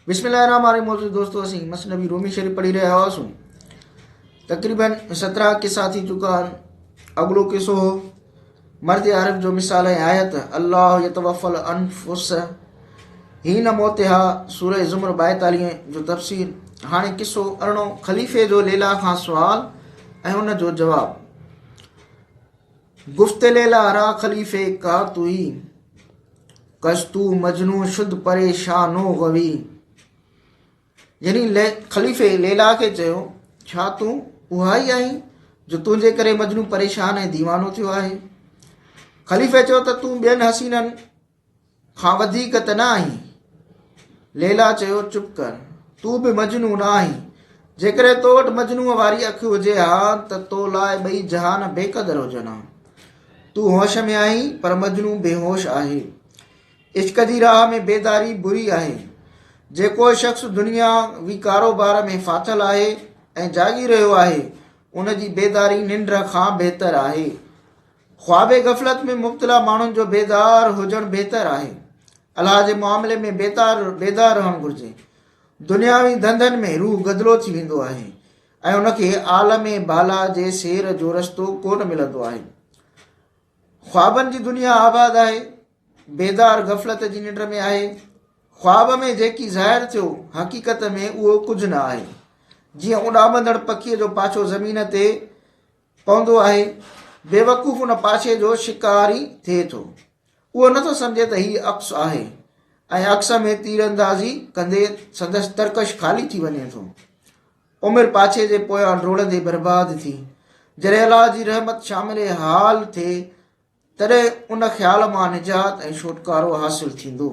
بسم الله الرحمٰن الرحيم معزز دوستو اسين مسنبي رومي شريف پڙهي رهيا هئاسون تقريبا سترا قصا ٿي چڪا آهن اڳلو قصو هو مرد عرب جو مثال ۽ آيت الله يتوفل انفس هي نه موتها سوره زمر 42 جو تفسير هاڻي قصو ارڻو خليفي جو ليلا کان سوال ۽ ان جو جواب گفت ليلا را خليفي ڪا توئي، ڪش تو مجنو شد پريشانو غوي. يعني خليفي ليلا کي چيو ڇا تون اها ئي آهين جو تنهنجي ڪري مجنو پريشان ۽ ديوانو ٿيو آهي. خليفي چيو ته تون ٻين حسينن کان وڌيڪ ته نه آهين؟ ليلا چيو، چپ ڪر، تون به مجنون نه آهين. جيڪڏهن تو وٽ مجنوء واري اک هجي ها ته تو لاء ٻئي جهان بيقدر هجن ها. تون هوش ۾ آهين پر مجنون بيهوش آهي. عشق جي راهه ۾ بيداري بري آهي. جيڪو شخص دنيا وي ڪاروبار ۾ ڦاٿل آهي ۽ جاڳي رهيو آهي، ان جي بيداري ننڊ کان بهتر آهي. خواب غفلت ۾ مبتلا ماڻهن جو بيدار هجڻ بهتر آهي. الله جي معاملي ۾ بيدار بيدار رهڻ گهرجي. دنياوي ڌنڌن ۾ روح گدلو ٿي ويندو آهي ۽ ان کي عالم بالا جي سير جو رستو ڪونه ملندو آهي. خوابن جي دنيا آباد آهي. بيدار غفلت جي ننڊ ۾ آهي. خواب ۾ جيڪي ظاهر ٿيو حقيقت ۾ اهو ڪجهه نه آهي. جيئن اڏامندڙ پکيء جو پاڇو زمين تي پوندو آهي، بيوقوف ان پاشي جو شڪار ئي ٿئي ٿو. اهو نه ٿو سمجهي ته هي عڪس آهي ۽ عڪس ۾ تيراندازي ڪندي سندس ترڪش خالي ٿي وڃي ٿو. عمر پاشي جي پويان ڊوڙندي برباد ٿي، جڏهن الله جي رحمت شامل حال ٿئي، تڏهن ان خيال مان نجات ۽ ڇوٽڪارو حاصل ٿيندو.